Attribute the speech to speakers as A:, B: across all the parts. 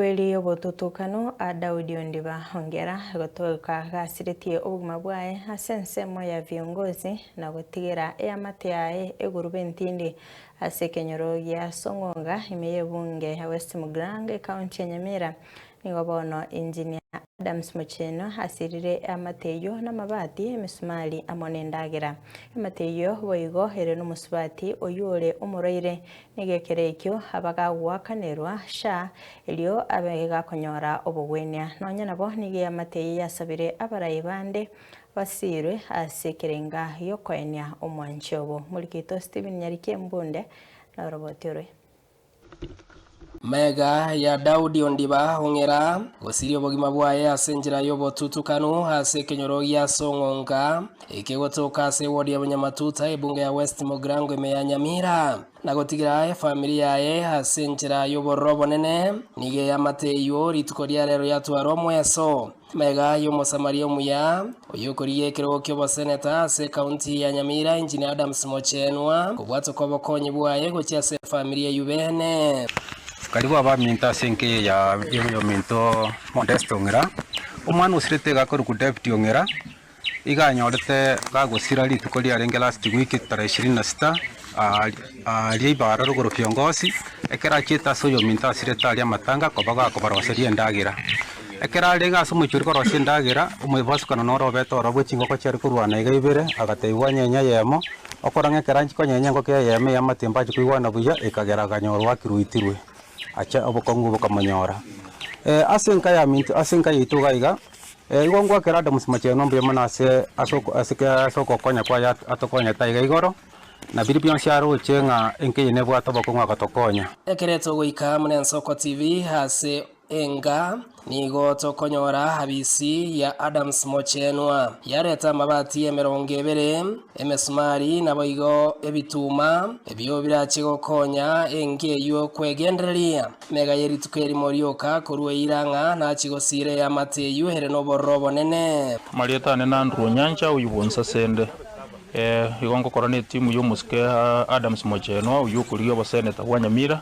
A: Kweri obotutukano a Daudi ondiba ongera gotoka gasiretie obogima bwaye ase ensemo ya viongozi na gotigera eamate yaye eguruba entindi ase ekenyoro gia Song'onga ime y'ebunge ya West Muglang ekaunti ya Nyamira. Nigo bono Engineer Adams Mocheno asirire eamate eyio namabati, emesumari amo nendagera. Eamate eyio boigo ere nomosubati oyio ore omorwaire Egekero ekio abagagoakanerwa sha, erio abe gakonyora obogwenia, nonya nabo nigo eamate eye yasabire abarai bande basiirwe ase ekerenga giokoenia omwanche obo. Morigeito Stephen Nyariki Embunde na oroboti orwe. Mega
B: ya Daudi ondiba ong'era, gosiria obogima bwaye ase enchera y'obotutukanu, ase ekenyoro gi'as'ong'onga. Ekegotoka ase ewodi ya Bunyamatuta, ebunge ya West Mogrango ime ya Nyamira, na gotigera efamiri yaye ase enchera y'obororo obonene, nigo eyamate eywo rituko ria reero yatwara omweso. Mega y'Omosamaria omuya, oyokorigia ekerogo ki'oboseneta ase ekaunti ya Nyamira, Engineer Adams Mochenwa, kobwatwa kw'obokonyi bwaye gochia ase efamiri eyio beene. Karibu
C: abaminto ase enkeya ya y'ominto Modesta Ong'ira, omwana osirete iga akorokwa David Ong'ira, Iga anyorete gagosira rituko riarenge last week tarehe ishirini na sita aaria ibara rogoro kiongozi ekero achiete ase oyominto asirete aria amatanga koba gakobaroseria endagera ekero arenge ase omochie oria korosia endagera omwebasukano noro obete orobwo chingoko chiare korwana iga ibere agatebwa nyenye eyemo okora ng'a ekero anchia konyenya engoko eyemo eya amatimba achia koigwana buya ekagera akanyorwa akiruitirwe ache obokong'u bokamonyora ase enka ya minto ase enka yaito iga iga. Ee, igo ngoakera Adamusi mochenu ombuya mono ase ase oko- ase ke- ase ogokonya kwaye at- atokonyete aiga igoro, na biria bionsi aroche ng'a enkeny'e nebwate obokong'u agotokonya. Ekereto goika
B: muna Ensoko TV ase enga nigo tokonyora habisi ya Adams Mochenwa. Yareta amabati emerongo ebere, emesumari naboigo ebituma ebio birache gokonya enga eyio kwegendereria. Mega ye rituko erimo rioka korwa eira ng'a nachi gosiira eamate eyio ere nobororo obonene. Amarieta ane na Andrew
D: Onyancha oyio bwonsi ase ende eh, igo ngokora netimu y'omosike Adams Mochenwa oyio okorigia oboseneta bwa Nyamira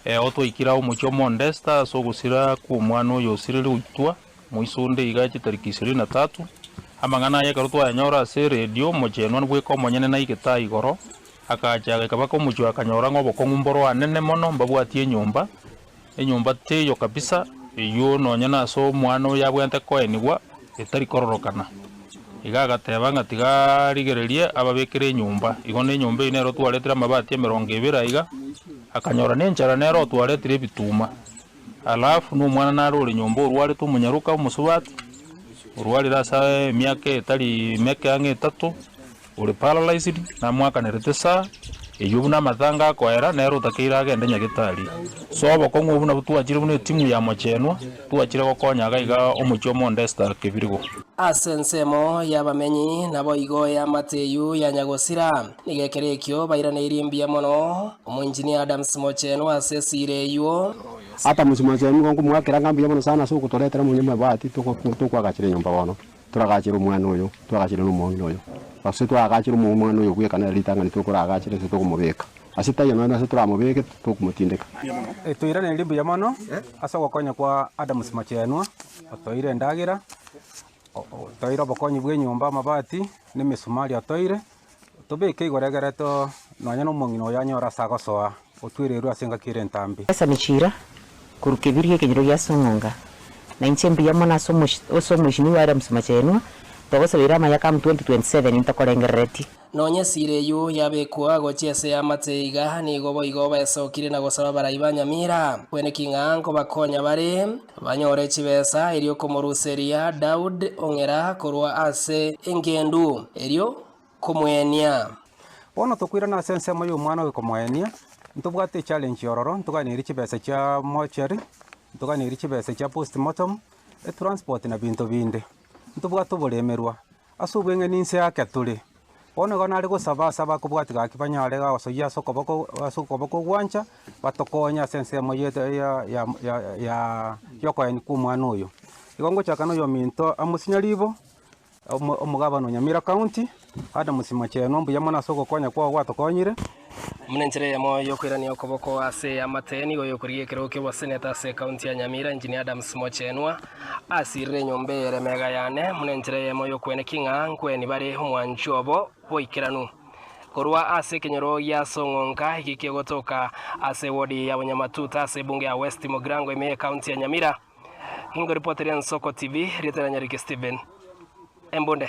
D: eh, oo twaikire ao omochie o Mondesta ase ogosira kw'omwana oyo osirire goitwa moiso onde iga chitariki ishirini na tatu. Amang'ana aya ekero twayanyora ase eredio, Mochenwa bweka omonyene naigete aa igoro Agacha agaika baka omochie akanyora ng'a obokong'u mboroanene mono mbabwatie enyomba, enyomba teiyo kabisa eyuo nonya nase omwana oyo abwenerete koenigwa etari kororokana. Iga agateba ng'a tiga arigererie ababekere enyomba. Igo ne enyomba eyio nere otwaretire amabati emerongo ebere aiga, akanyora ne enchara nere otwaretire ebituma. Alafu na omwana nare ore nyomba orwarete omonyaroka omosubati, orwarire ase emiaka etari meke ang'e etato. Ore paralyzed namwakanerete saa eyio buna amatanga akoera nere otakeire agende nyagetari. So obokong'u obwo nabwo twachire buna etimu ya mochenwa twachire gokonya iga iga omochie omo onde Esther Kebirigo. Ase ensemo
B: y'abamenyi naboigo eamate eyio ya Nyagosira. Nigo ekero ekio bairaneirie mbuya mono omoengineer Adams Mochenwa ase esira eyio. Adams
E: Mochenwa, nkomoakera ng'a mbuya mono sana ase ogotoretera monyama ebati tokoagachera enyomba bono. Toragachere omwana oyo, twagachere nomong'ina oyo. Gose twagachere omwana oyo bw'ekana ere ritang'ani tokoragachere ase tokomobeka ase taiyo nonya ase toramobeke tokomotindeka. Toiranerie
C: mbuya mono ase ogokonya kwa Adams Mochenwa otoire endagera, otoire obokonyi bw'enyomba, amabati, na emesumari otoire. Otobeke igoro egereto, nonya nomong'ina oyo anyore ase agosoa, otwererwe ase engaki ere entambe. Esa ne chiira,
F: korwa kebirio gekenyoro gia ase eng'onga, na inche mbuya mono ase ase omoisinigwa aria mosemachaenwa, togosabeire amayaka amu 2027 intokorengerereti. Nonya esira
B: eyio yabekwa gochia ase y'amate iga nigo boigo baesokire na gosaba abarai ba Nyamira. Kweneki ng'a nkobakonya bare. Banyore chibesa erio komoruseria Daud ong'era korwa ase engendu, erio komoenia. Bono
C: tokoirana ase ensemo y'omwana oye komoenia, ntobwate echallenge yororo, ntoganerie chibesa chia mortuary, ntoganerie chibesa chia postmortem, etransport na binto binde. Ntobwate oboremerwa, Ase obweng'eni inse yake tore. Bono igo nare gosaba ase abakobwatia gaki banyare gosoyia ase okoboko ase okoboko ogwancha, batokonye ase ensemo yetu ya ya ya ya y'okoenyu kw'omwana oyo. Igo ngochaka na oyominto Amos Nyaribo, omo omogabana o Nyamira County, Adams Machenwa, mbuya mono ase ogokonya kwao gwato konyire. Buna
B: enchera eyemo y'okoirania okoboko ase eamate, nigo oyokorigia ekerogo ki'oboseneta ase ekaunti ya Nyamira, Engineer Adams Mochenwa, asirire enyomba eye ere mega yane, buna enchera eyemo y'okweneki ng'a nkweni bare omwancho obo bw'oikeranu. Korwa ase ekenyoro gia Song'onka, eki kegotoka ase ewodi ya Bonyamatuta ase ebunge ya West Mugirango ime y'ekaunti ya Nyamira. Ningoripoteri Ensoko TV, erieta riane Ricky Stephen Embunde.